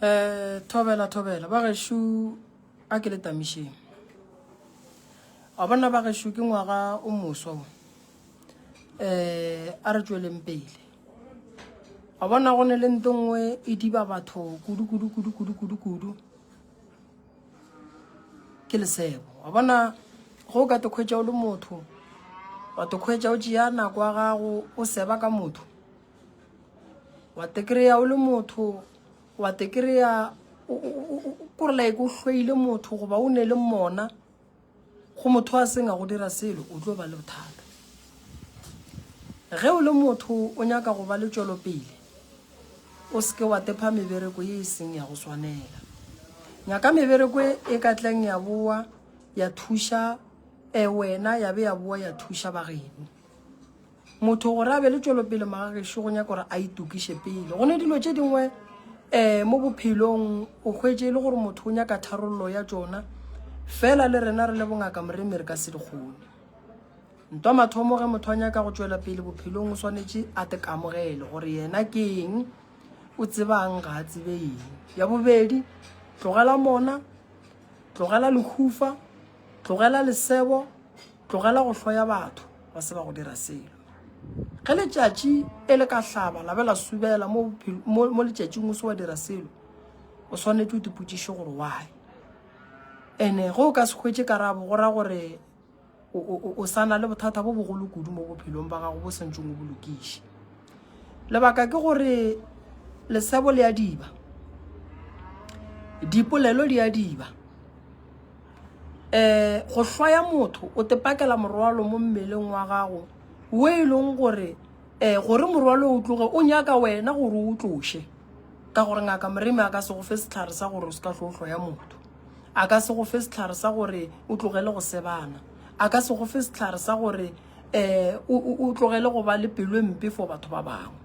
um thobela thobela ba gešo a ke le tamišeng a bona ba gešo ke ngwaga o moswa um a re tsweleng pele a bona go ne le nto nngwe e diba batho kudu kudu kudu kudu kudu kudu ke lesebo a bona go ka te kgwetša o le motho wa te kgwetša o tšea nako ya gago o seba ka motho wa te kry-a o le motho wa te kry-a kore like o hlweile motho goba o ne le mona go motho a seng a go dira selo o tlo ba le bothata ge o le motho o nyaka go ba le tšwelopele o seke wa tepha mebereko ye e seng ya go swanela nyaka mebereko e, e ka tleng ya boa ya thuša um wena ya be ya boa ya thuša bageno motho gore a be le tšwelopele magagešo go nyaka gore a itokiše pele go ne dilo tše dingwe um mo bophelong o kgwetse e le gore motho o nyaka tharololo ya tsona fela le rena re le bongaka moremi re ka se di kgone ntwa mathomo ge motho a nyaka go tšwela pele bophelong o swanetše a tekamogele gore yena ke eng o tsebang ga a tsebe eng ya bobedi tlogela mona tlogela lehufa Tlogela lesebo, tlogela go hloya batho ba se ba go dira selo. Ge letšatši e le ka hlaba la be la subela mo, mo, mo letšatšing o se wa dira selo o swanetše o dipotšiše gore why ene ge o ka se hwetše karabo go ra gore o sa na le bothata bo bogolo kudu mo bophelong ba gago bo santšeng o bolokiše lebaka ke gore lesebo le a diba dipolelo di a diba um go hlwaya motho o tepakela morwalo mo mmeleng wa gago wo e leng gore um gore morwalo o tloge o nyaka wena gore o tloše ka gore ngaka moremi a ka se go fe setlhare sa gore o se ka tlo hlwaya motho a ka se go fe setlhare sa gore o tlogele go sebana a ka se go fe setlhare sa gore um o tlogele go ba le pelo e mpe for batho ba bangwe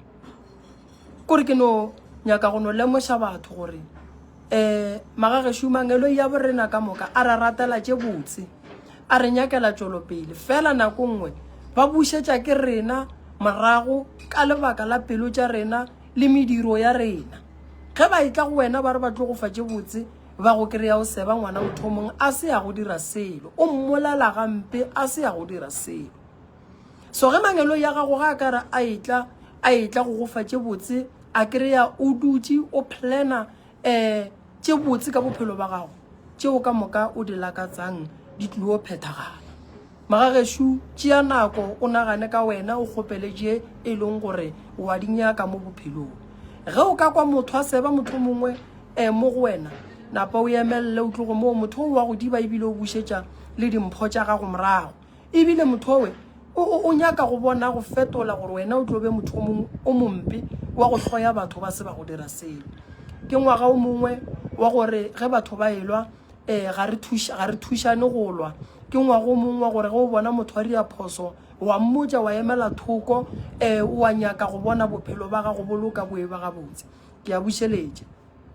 kore ke no nyaka go no lemoša batho gore um magagešu mangelo ya borena ka moka a ra ratela tše botse a re nyakela tšwelopele fela nako nngwe ba bušetša ke rena morago ka lebaka la pelo tša rena le mediro ya rena ge ba e tla go wena ba re ba tlo go fa tše botse ba go kry-a o seba ngwana mothomong a se ya go dira selo o mmolela gampe a se ya go dira selo so ge mangelo ya gago ga a ka re a etla a etla go gofa tše botse a kry-a o dutse o plana um tše botse ka bophelo ba gago tšeo ka moka o di lakatsang di tlio phethagala Magagešo, tšea nako o nagane ka wena, o kgopele tše e leng gore o a di nyaka mo bophelong. Ge o ka kwa motho a seba mohlomongwe e mo go wena, napa o emelele o tloge moo, motho o wa go diba ebile o bušetša le dimpho tša gago morago. Ebile motho owe o, o, o nyaka go bona go fetola gore wena o tlo be motho o mongwe o mompe wa go hloya batho ba se ba go dira selo. Ke ngwaga o mongwe wa gore ge batho ba elwa, um ga re thušane go lwa ke ngwago mong wa gore ge o bona motho wa dira phoso wa mmotsa wa emela thoko um eh, wa nyaka go bona bophelo ba gago boloka boe ba gabotse ke a bušeletša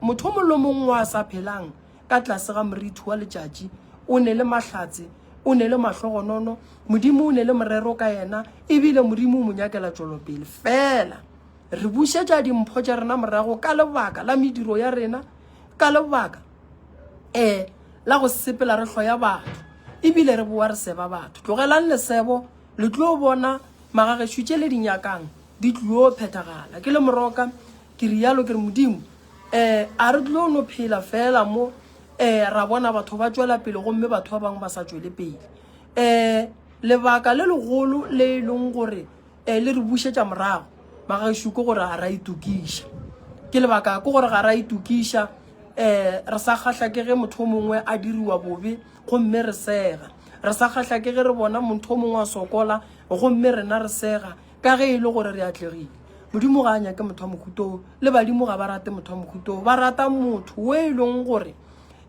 motho mongwe le mongwe wa sa phelang ka tlase ga morithi wa letšatši o ne le mahlatse o ne le mahlogonono modimo o ne le morero ka yena ebile modimo o mo nyakela tšwelopele fela re bušetša dimpho tša rena morago ka lebaka la mediro ya rena ka lebaka eh la go sepela re hloya batho ebile re boa re seba batho tlogelang lesebo le tlo bona magagešu tše le di nyakang di tlo phethagala ke le moroka ke rialo ke re modimo eh a re tlo no phela fela mo eh ra bona batho ba tšwela pele gomme batho ba bangwe ba sa tšwele pele eh lebaka le legolo le e leng gore e le re bušetša morago magaešo ke gore ga ra itokiša ke lebaka ke gore ga ra itokiša um re sa kgahla ke ge motho o mongwe a diriwa bobe gomme re sega re sa kgahla ke ge re bona motho o mongwe a sokola gomme rena re sega ka ge e le gore re atlegile modimo ga a nyake motho wa mokhuto le badimo ga ba rate motho wa mokhuto ba rata motho o e leng gore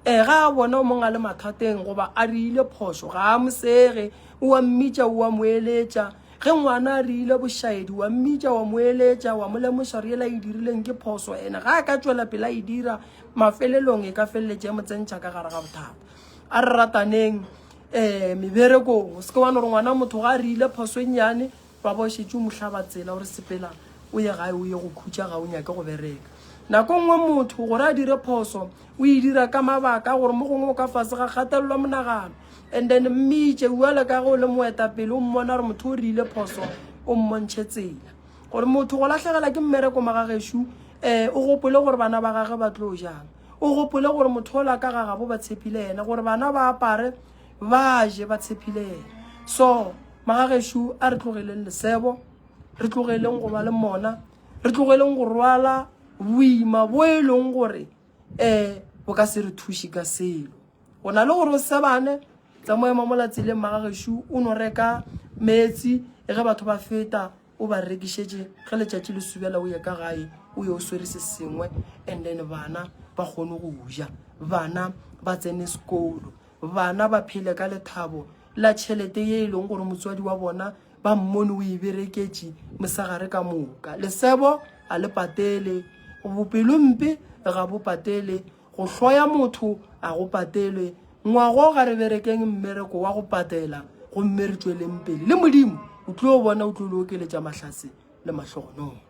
um ga a bona o mongwe a le mathateng goba a re ile phoso ga a mosege o a mmitša o a moeletša Ge ngwana a rile bošaedi, wa mmitša, wa mo eletša, wa mo lemoša gore yela e dirileng ke phoso, ene ga a ka tšwela pela e dira, mafelelong e ka feleletša e mo tsentšha ka gare ga bothata. A re rataneng um meberekong. O se ke wa no re ngwana motho ga a rile phoso e nnyane, wa ba o šetše o mo hlaba tsela, o re sepela o ye gae o ye go khutša ga o nyake go bereka. Nako nngwe motho gore a dire phoso o e dira ka mabaka a gore mo gongwe o ka fase ga kgatelelo ya monagano and then mmitše uale ka ge o le moetapele o mmona gore motho o rile phoso o mmontšhe tsela gore motho go latlhegela ke mmereko magagešo um eh, o gopole gore bana ba gage ba tlo jang o gopole gore motho o la ka gagabo ba tshepile yena gore bana ba apare ba je ba tshepile yena so magagešo a re tlogeleng lesebo re tlogeleng go ba le mona re tlogeleng go rwala boima bo e leng gore um bo ka se re thuše ka selo go na le gore o sebane tsa mo ema mola tseleng magagešu o no reka metsi e ge batho ba feta o ba rekišetše ge letšatši le subela o ye ka gae o ye o swere se sengwe and then bana ba kgone go ja bana ba tsene sekolo bana ba phele ka lethabo la tšhelete ye e leng gore motswadi wa bona ba mmone o e bereketše mosegare ka moka lesebo a le patele bopelo mpe ga bo patele go hloya motho a go patelwe ngwago ga re berekeng mmereko wa go patela gomme re tšweleng pele le modimo o tlo bona o tlo le okeletša mahlase le mahlogonolo